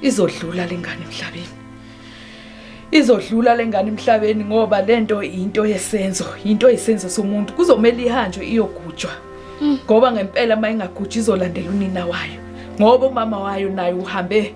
izodlula lengane emhlabeni izodlula lengane emhlabeni ngoba lento into yesenzo into yesenzo somuntu kuzomela ihanjwe iyogujwa mm. ngoba ngempela mayingagujwa izolandela unina wayo ngoba umama wayo naye uhambe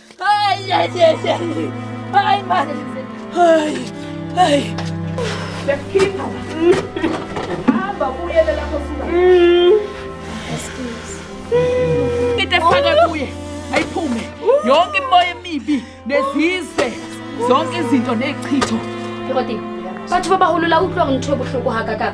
Ay, ay, ay, ay. Ay, madre. Ay, ay. Yakhipha. Hamba kuyele lapho suka. Excuse. Into efaka kuye ayiphume. Yonke imimoya emibi nezizwe. Zonke izinto nechitho. Kodwa bathi babahulula utlwa ngithobuhloko hakaka.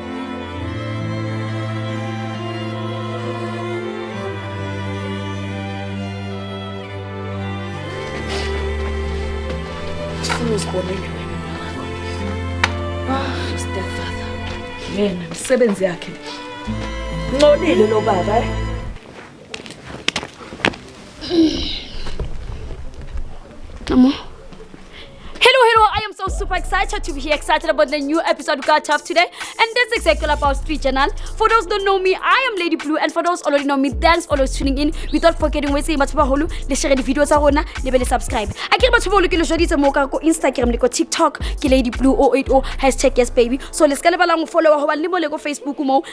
uzibonele wena ah stepfather yena misebenzi yakhe ncolile lo baba eh? excited to be excited about the new episode we got tough today. And that's exactly all about Street Journal. For those don't know me, I am Lady Blue. And for those already know me, thanks for always tuning in. Without forgetting, we say Matuba Holu, le share the videos arona, le bele subscribe. I get Matuba Holu kilo jodi mo ka ko Instagram, le ko TikTok, ki Lady Blue 080 hashtag yes baby. So let's get along follow ho ba le mo le ko Facebook mo,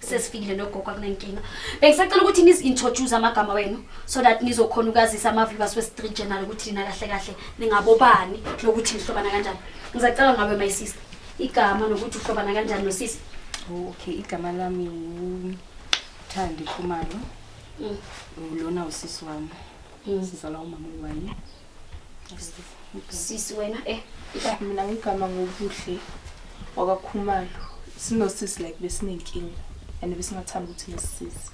sesifikile nogogo akunankinga bengisacela ukuthi nizi-introduce amagama wenu so that nizokhona ukazisa ama-viewers we-street journal ukuthi nina kahle kahle ningabobani nokuthi nihlobana kanjani ngizacela ngawe my sister igama nokuthi uhlobana kanjani nosisi okay igama lami wuthandi khumalo Mm. lona usisi wami Mm. sizalwa umama wayi sisi wena eh mina ngigama ngobuhle wakakhumalo sinosisi like besinenkinga and besingathanda ukuthi nesisize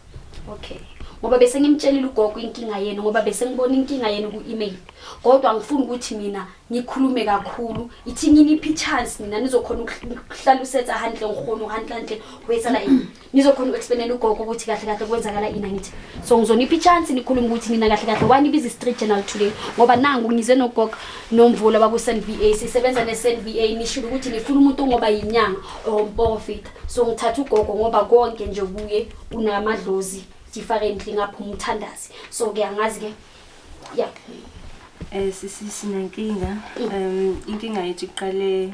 okay ngoba bese ngimtshelile ugogo inkinga yenu ngoba bese ngibona inkinga yenu ku-email kodwa ngifuna ukuthi mina ngikhulume kakhulu ithi nginiphi ichance nina nizokhona ukuhlala usetsa handle ngikhona uhandlantle wetsa la nizokhona uku-explainela ugogo ukuthi kahle kahle kwenzakala ini angithi so ngizonipha i-chance nikhulume ukuthi nina kahle kahle wani ibiza i-street journal today ngoba nangu ngize nogogo nomvula baku-sn v a sisebenza ne-sn v a nishilo ukuthi nifuna umuntu ongoba yinyanga or umporofita so ngithatha ugogo ngoba konke nje kuye unamadlozi differently ngapha umthandazi so ke angazi ke ya um sisi sinenkinga um inkinga yethu iqale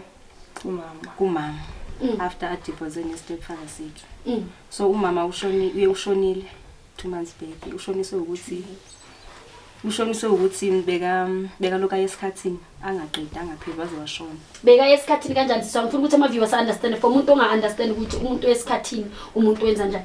umama kumama mm. after a divorce ne stepfather sethu mm. so umama ushoni uye ushonile 2 months back ushoniswe ukuthi ushoniswe ukuthi beka beka lokho ayesikhathini angaqedi angapheli waze washona beka esikhathini kanjani siswa ngifuna ukuthi ama viewers understand for umuntu onga understand ukuthi umuntu wesikhathini umuntu wenza njani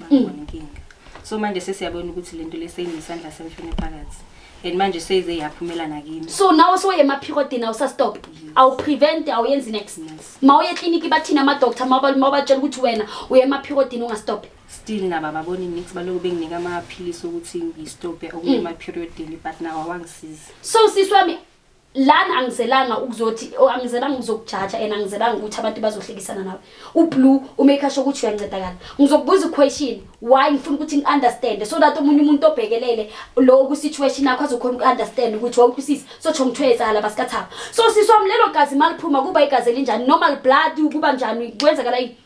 Babona inkinga. So manje sesiyabona ukuthi lento leseyinesandla semfene phakathi. And manje seyize yaphumela nakini. so nawe soye emaphikodini awusastop awuprevent awuyenzi next Yes. ma uye ekliniki bathini amadoctor mabatshela ukuthi wena uye emaphikodini ungastop Still nabo ababoni nix baloku benginika amaphilisi ukuthi ngistophe ukuya emaperiodini but nawo awangisizi. so sisi wami lana angizelanga ukuzothi oh, angizelanga ukuzokujaja and angizelanga ukuthi abantu bazohlekisana nawe ublue umaker sho ukuthi uyancedakala ngizokubuza iquestion why ngifuna ukuthi ngi-understand so that omunye umuntu obhekelele lowo kwisituation yakho azokhona uku-understand ukuthi wawuthi usisi sotsho ngithiwe yezala basikathaba so siswam lelo gazi maliphuma kuba igazi elinjani normal blood kuba njani kwenzakala yini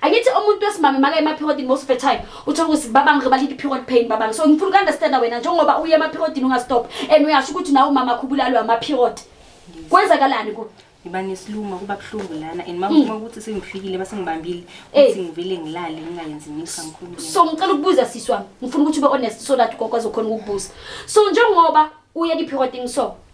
angithi umuntu wesimame maka emaphikodini most of the time uthola ukuthi babangi ngiba lithi period pain babangi so ngifuna ukunderstanda wena njengoba uye emaphikodini ungastop and uyasho ukuthi nawe umama khubulalwe amaphiod kwenzakalani ku ngiba nesiluma kuba buhlungu lana and mama uma mm. ukuthi sengifikile basengibambile eh. ukuthi ngivele ngilale ngingayenzi imisa ngikhulumile so ngicela ukubuza sisi wami ngifuna ukuthi ube honest so that ugogo azokhona ukukubuza so njengoba uye liphirotini so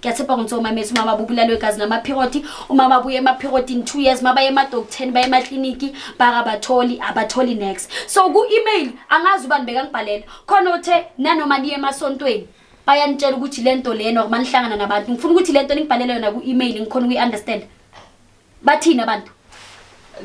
ngiyathemba ngithiwa umamethi uma baba ubulalwe gazi namaphikoti uma babuye emaphikotini two years uma baye emadoktheni baye emakliniki bakabatholi abatholi next so ku-email angazi ubani bekangibhalela khona othe nanoma niye emasontweni bayanitshela ukuthi le nto lena uma nihlangana nabantu ngifuna ukuthi le nto ningibhalele yona ku-email ngikhona ukuyi-understand bathini abantu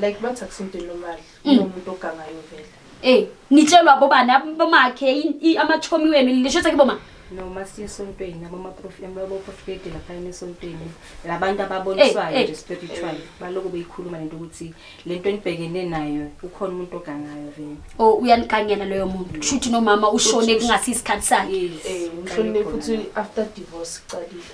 like bathi akusintweni lomali Mm. kunomuntu ogangayo vele Eh, nitshelwa bobani ab- bomakhe i- i- amachomi wenu lisho ukuthi kiboma noma siye esontweni abaprofeti laphayana esontweni labantu ababonisayo Eh, eh. nje spiritual balokhu beyikhuluma lento ukuthi le nto enibhekene nayo ukhona umuntu ogangayo vele o uyanikanyela loyo muntu kusho ukuthi nomama ushone kungasi isikhathi sakhe Yes. Eh, umhlonile futhi after divorce iqalile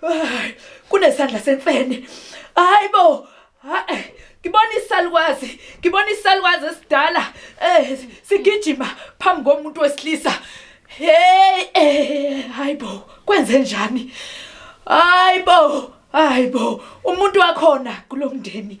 Hayi, kunesandla semfene. Hayibo. Hayi. Ngibona isalukwazi, ngibona isalukwazi esidala eh sigijima phambi komuntu wesilisa. Hey, eh, hayibo, kwenze njani? Hayibo, hayibo, umuntu wakhona kulomndeni.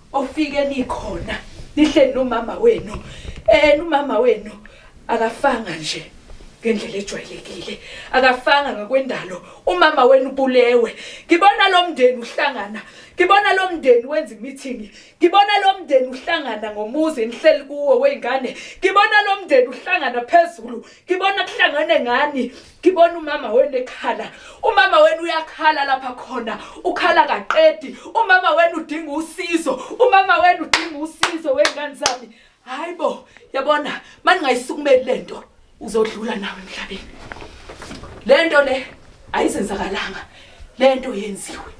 ofike nikhona nihleli nomama wenu eh nomama wenu akafanga nje ngendlela ejwayelekile akafanga ngakwendalo umama wenu bulewe ngibona lo mndeni uhlangana ngibona lo mndeni wenza imithingi ngibona lo mndeni uhlangana ngomuzi enihleli kuwo wey'ngane ngibona lo mndeni uhlangana phezulu ngibona kuhlangane ngani ngibona umama wenu ekhala umama wenu uyakhala lapha khona ukhala kaqedi umama wenu udinga usizo umama wenu udinga usizo wengane zami hayi bo yabona mani ngayisukumeli le nto uzodlula nawe emhlabeni le nto le ayizenzakalanga le nto yenziwe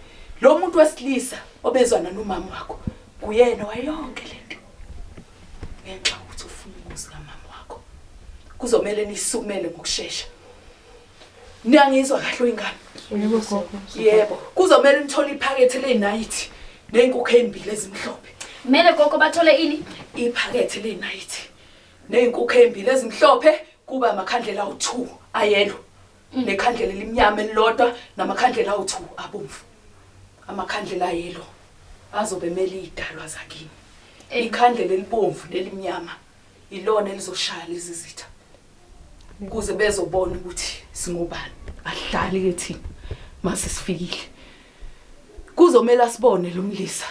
lo muntu wesilisa obezwana nomama wakho kuyena wayonke le nto ngenxa ukuthi ufuna umuzi kamama wakho kuzomele nisukumele ngokushesha niyangizwa kahle oyingane yebo gogo yebo kuzomele nithole iphakethe leyinayithi neyinkukhu ezimbili ezimhlophe kumele gogo bathole ini iphakethe leyinayithi neyinkukhu ezimbili ezimhlophe kuba amakhandlela awu2 ayelo Nginekhandlela elimnyama elilodwa namakhandlela awu-two abomvu. Amakhandlela ayelo azobe emele iy'dalwa zakini. Ikhandlela elibomvu nelimnyama ilona elizoshaya lezi zitha ukuze bezobona ukuthi singobani. Ahlali-ke thina mase sifikile kuzomele asibone lo mlisa.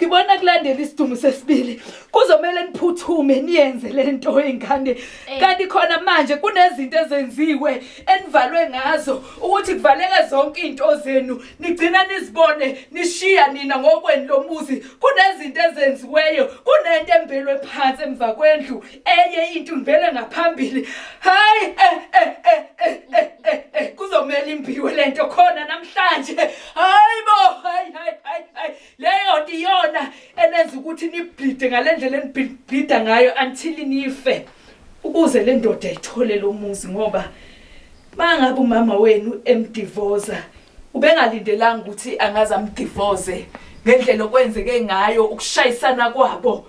ngibona kulandela isidungu sesibili kuzomele niphuthume niyenze le nto ey'ngane eh. kanti khona manje kunezinto ezenziwe enivalwe ngazo ukuthi kuvaleke zonke iy'nto zenu nigcina nizibone nishiya nina ngokweni lomuzi kunezinto ezenziweyo kunento embelwe phansi emva kwendlu enye into ngibele ngaphambili hayi eh, eh, eh, kuzomela imbiwe lento khona namhlanje hayi bo hayi hayi hayi leyo nto iyona enenza ukuthi nibhlide ngale ndlela enibhlida ngayo until nife ukuze le ndoda ithole lo muzi ngoba uma ngabe umama wenu emdivoza ubengalindelanga ukuthi angaze amdivoze ngendlela okwenzeke ngayo ukushayisana kwabo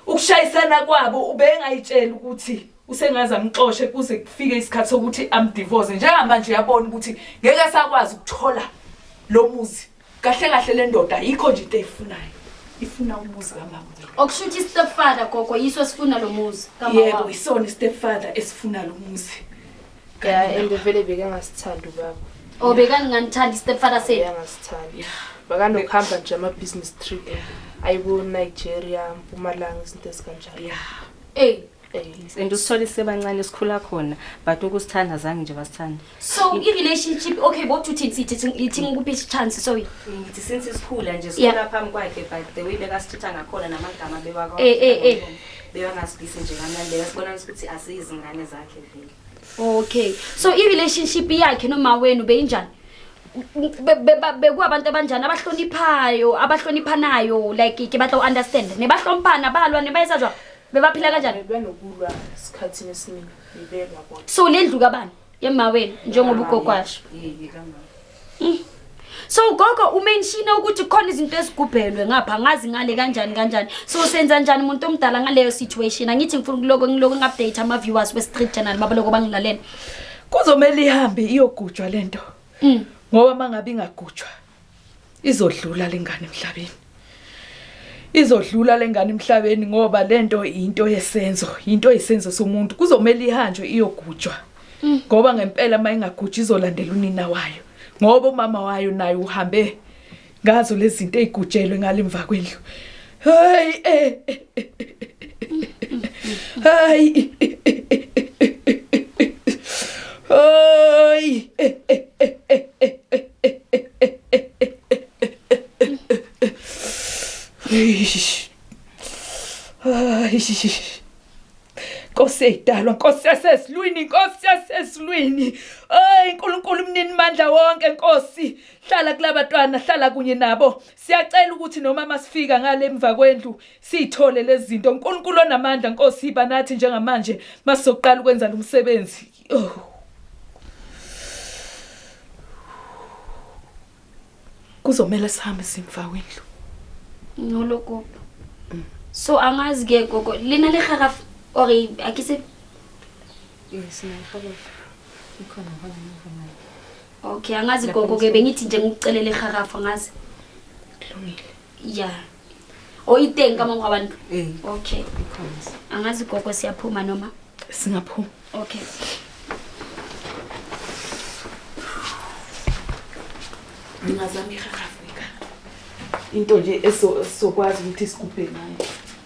ukushayisana kwabo ubengayitshela ukuthi usengaze amxoshe kuze kufike isikhathi sokuthi amdivoze njengamanje uyabona ukuthi ngeke asakwazi ukuthola lo muzi kahle kahle le ndoda yikho nje into eyifunayo ifuna umuzi kamama okusho ukuthi istepfather gogo yiso esifuna lo muzi yebo isona istepfather esifuna lo muzi ya and vele bekangasithandi ubaba o oh, bekanginganithandi istepfather sethu bekangasithandi bakanokuhamba nje ama-business trip ayibo-nigeria mpumalanga izinto ezikanjalo ya eyi Yes, and usithole sisebancane sikhula khona but ukusithanda zange nje basithanda so i-relationship okay both uthini sithi ithinga ukuphi isichance sorry ngithi since sikhula nje Yeah. sikhula phambi kwakhe but the way bekasithutha ngakhona namagama bewakwa Eh, eh, eh. bewangasibisi nje kamnandi bekasibona ukuthi asiyizingane zakhe vele okay so i-relationship yakhe noma wenu beyinjani Be- be- ba- bekuwabantu abanjani abahloniphayo abahloniphanayo like ke batla u-understand nebahlomphana balwa nebayesajwa Bebaphila kanjani? Benokulwa esikhathini esiningi bebelwa bona. So lendlu kabani? Yemawenu njengoba ugogwasho. Yeke kamama. Mm. So gogo umenshina ukuthi khona izinto ezigubhelwe ngapha ngazi ngale kanjani kanjani. So senza njani umuntu omdala ngaleyo situation? Angithi ngifuna ukuloko ngiloko ngi-update ama viewers we Street Channel baba lokho bangilalela. Kuzomela ihambe iyogujwa lento. Mm. Ngoba mangabe ingagujwa izodlula lengane emhlabeni izodlula lengane emhlabeni ngoba lento into yesenzo into yesenzo somuntu kuzomela ihanjwe iyogujwa mm. ngoba ngempela uma ingagujwa izolandela unina wayo ngoba umama wayo naye uhambe ngazo lezi zinto ezigujelwe ngalemva kwendlu Hayi. Eh, eh, eh, Hayi. Hayi. Eish. Eish. Nkosi edalwa, Nkosi yasesilwini, Nkosi yasesilwini. Ay, uNkulunkulu mnini mandla wonke, Nkosi. Hlala kulabantwana, hlala kunye nabo. Siyacela ukuthi noma masifika ngale emva kwendlu siyithole lezi zinto. Nkulunkulu onamandla Nkosi yiba nathi njengamanje masizoqala ukwenza lo msebenzi. Oh. Kuzomela sihambe simva wendlu. Noloko. Mm. So angazi ke gogo lina le khara or akise Yes, na khara. Ikhona khona ngivuma. okay angazi gogo ke bengithi nje ngikucelele iharafu angazi kulungile ya o iteng ka mongwa abantu eh. okay angazi gogo siyaphuma noma singaphuma okay ngingazama iharafu into nje esokwazi ukuthi sigubhe ngayo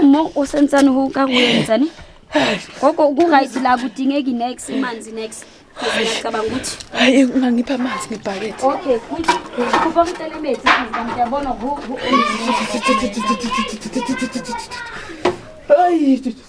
umo usentsani huka kuyentsani gogo ku-right la kudingeki nex imanzi nex ngiyacabanga ukuthi hayi ungangipha amanzi ngebhakethe okay kuthi kupha umtelemethi ngiyabona hayi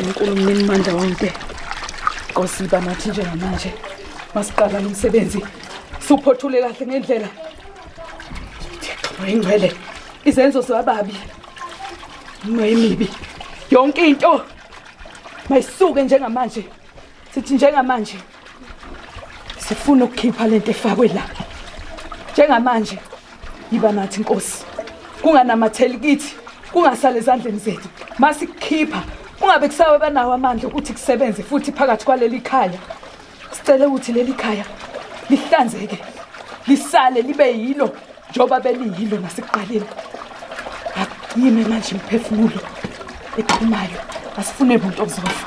Unkulu mnini mandla wonke. Nkosi iba nathi njengamanje. Masiqala lo msebenzi. Suphothule kahle ngendlela. Ingcwele. Izenzo zababi. Mayimibi. Yonke into mayisuke njengamanje. Sithi njengamanje. sifuna ukukhipha lento efakwe la njengamanje yiba nathi inkosi kunganamatheli kithi kungasale ezandleni zethu masikhipha kungabe kusawe banawo amandla ukuthi kusebenze futhi phakathi kwaleli khaya sicela ukuthi leli khaya lihlanzeke lisale libe yilo njengoba beliyilo nasekuqaleni yime manje imphefumulo eqhumayo asifune muntu ozofa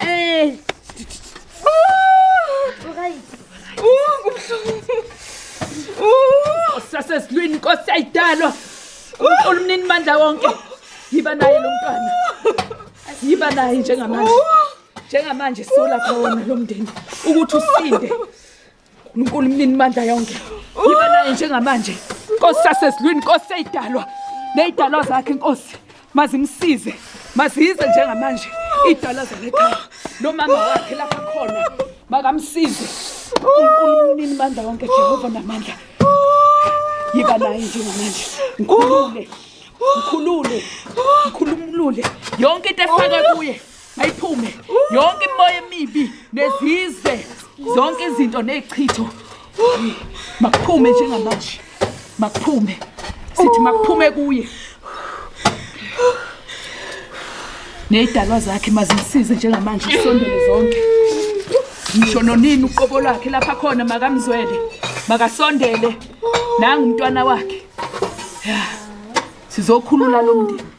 Ey. Sasesilwini inkosi ayidalwa. Unkulu mnini mandla wonke. Yiba naye lo mntwana. Yiba naye njengamanje. Njengamanje sola khona lo mndeni ukuthi usinde. uNkulunkulu mnini mandla yonke yiba naye njengamanje inkosi sasezulwini inkosi seyidalwa neyidalwa zakhe inkosi mazimsize mazize njengamanje idalwa zalekhaya nomama wakhe lapha khona makamsize unkulunkulu mnini mandla wonke jehova namandla yiba naye njengamanje ngikhulule ngikhulule ngikhulumulule yonke into efakwe kuye ayiphume yonke imimoya emibi nezizwe zonke izinto nezichitho makuphume njengamanje makuphume sithi makuphume kuye nezidalwa zakhe mazimsize njengamanje isondele zonke ngisho nonini uqobo lwakhe lapha khona makamzwele makasondele nangu umntwana wakhe ya sizokhulula lo mndeni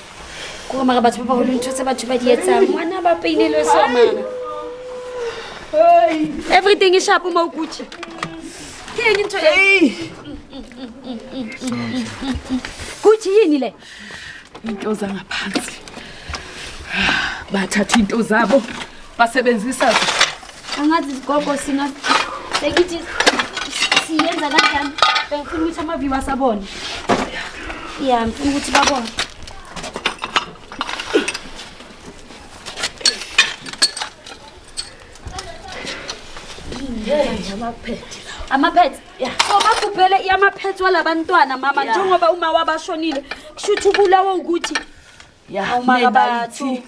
Kore mara batho ba ba holo ntho tse batho ba di etsang ngwana ba painelwe so mara everything is sharp mo gucci ke eng ntho e gucci yini le into zangaphansi bathatha into zabo basebenzisa angazi izigogo sina bengithi siyenza kanjani bengifuna ukuthi amaviwa asabone ya ngifuna ukuthi babone amaphethe so bagubhele amaphethe walabantwana mama njengoba uma wabashonile kusho ukuthi ubulawa ukuthi awumakabathi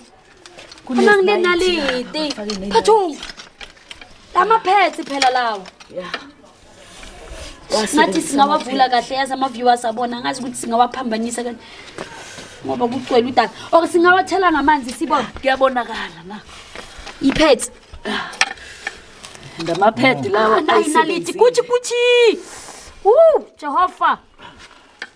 Kunang lenaliti. Phathum. Lama pads phela lawa. Yeah. Ngathi singawavula kahle yazi ama viewers abona ngazi ukuthi singawaphambanisa kanjani. Ngoba kucwele udaka. Or singawathela ngamanzi sibona. Kuyabonakala na. Ipads. Ndama pad lawa. Ayinaliti kuthi kuthi. Woo, Jehovah.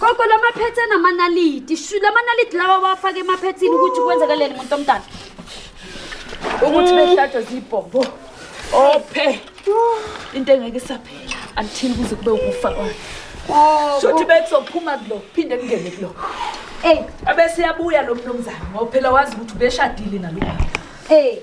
gogo la maphethe anamanaliti shu la manaliti lawa wafaka emaphethini ukuthi kwenzakaleni muntu omdala ukuthi behlatshwe zibhombo ophe into engeke isaphela until kuze kube ukufa kwayo shuthi bekuzophuma kulo phinde kungene kulo eyi abeseyabuya lo mnumzane ngoba phela wazi ukuthi ubeshadile nalobaba eyi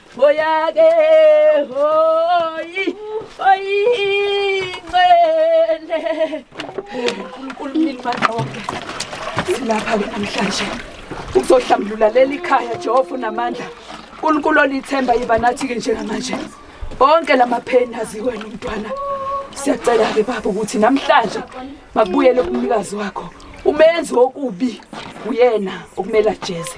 Hoyake hoyi oyingcele uNkulunkulu nilibandla wonke silapha ke namhlanje ukuzohlambulula leli khaya Jehova unamandla uNkulunkulu olithemba yiba nathi ke njengamanje bonke lamapheni azikwena umntwana siyacela ke baba ukuthi namhlanje makubuyele kumnikazi wakho umenzi wokubi uyena okumele ajeze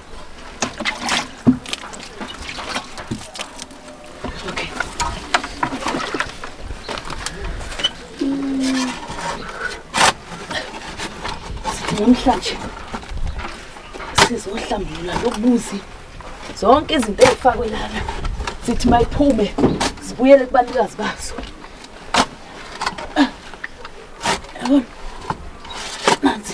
namhlanje sizohlambulula lokubuzi zonke izinto ezifakwe lana sithi mayiphume zibuyele kubanikazi bazo yabona nanzi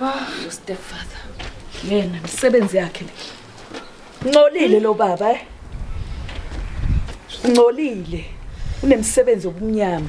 Ah, your stepfather. Yena misebenzi yakhe le. Ncolile lo baba eh. Ncolile. Unemsebenzi obumnyama.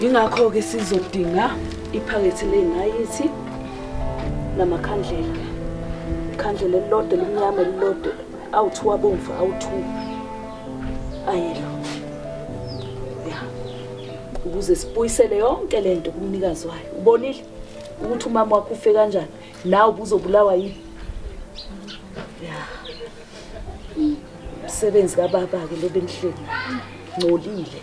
Yingakho-ke sizodinga iphakethe ley'nayithi namakhandlela. Ikhandlela elilodwa elimnyama elilodwa awu-two abomvu awu-two ayelo ya ukuze sibuyisele yonke le nto kumnikazi wayo ubonile ukuthi umama wakho ufe kanjani nawe ubuzobulawa yini ya umsebenzi kababa-ke lo benihleli ngcolile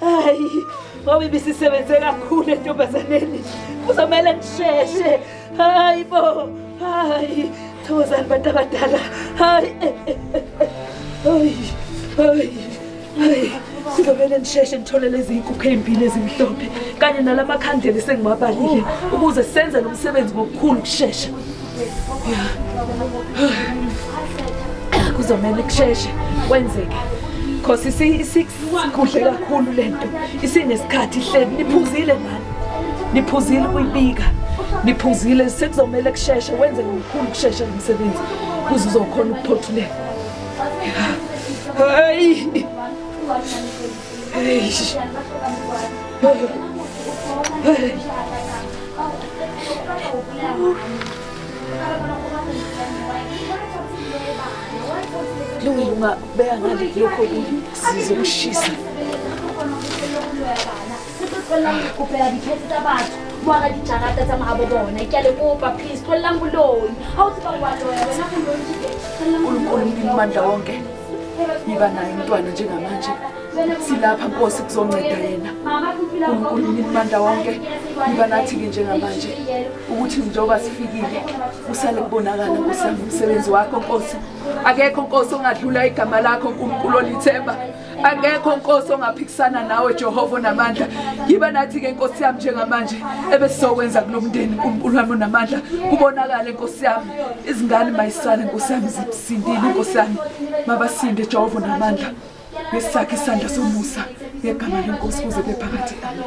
hayi ngoba ibisisebenze kakhulu entombazaneni kuzomele ngisheshe hayi bo hayi thokozani bantu abadala hayi eh, eh, eh, hayi hayi hayi sizomele nisheshe nithole lezi nkukhu ey'mbili ezimhlophe kanye nala makhandlela esengiwabalile ukuze senze lo msebenzi ngokukhulu kushesha kuzomele kusheshe kwenzeke cause Kuhle kakhulu lento. Isinesikhathi hleli niphuzile mani. Niphuzile kuyibika. Niphuzile sekuzomela kusheshe wenze ngokukhulu kusheshe umsebenzi. Kuze uzokhona ukuphothuleka. Hey. Hey. Hey. Lunga Beka ngale lokho kunye sizokushisa. Kupela diphetse tsa batho moara dijarata tsa mahabo bona ke a le kopa please tlolelang boloi ga o tseba wa loya wena boloi mandla wonke yiba naye umntwana njengamanje silapha nkosi kuzonceda yena unkulunkulu imibanda wonke yiba nathi-ke njengamanje ukuthi njengoba sifikile kusale kubonakala nkosi umsebenzi wakho nkosi akekho nkosi ongadlula igama lakho nkulunkulu olithemba akekho nkosi ongaphikisana nawe jehova namandla yiba nathi-ke nkosi yami njengamanje ebesizokwenza kulo mndeni nkulunkulu wami onamandla kubonakale nkosi yami izingane mayisale nkosi yami zisindile nkosi yami mabasinde jehova namandla ngesakhe isandla somusa ngegama lenkosi kuze kube phakathi amen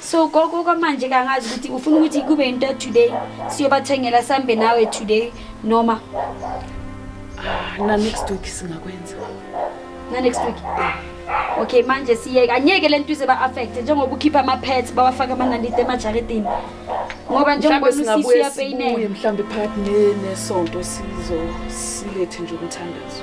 so gogo kwamanje kangazi ukuthi ufuna ukuthi kube into today siyobathengela sambe nawe today noma ah, na next week singakwenza na next week okay manje siyeke angeke lento ize ba affect njengoba ukhipha ama pets bawafaka amanandite emajaridini ngoba njengoba usisi uyapainela mhlambe part ne nesonto sizo silethe nje umthandazo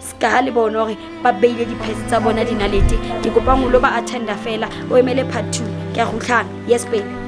ska ha le bone gore ba beile diphese tsa bona dinalete ke kopa ngolo ba attenda fela o emele part two ke a gutlhana yes baby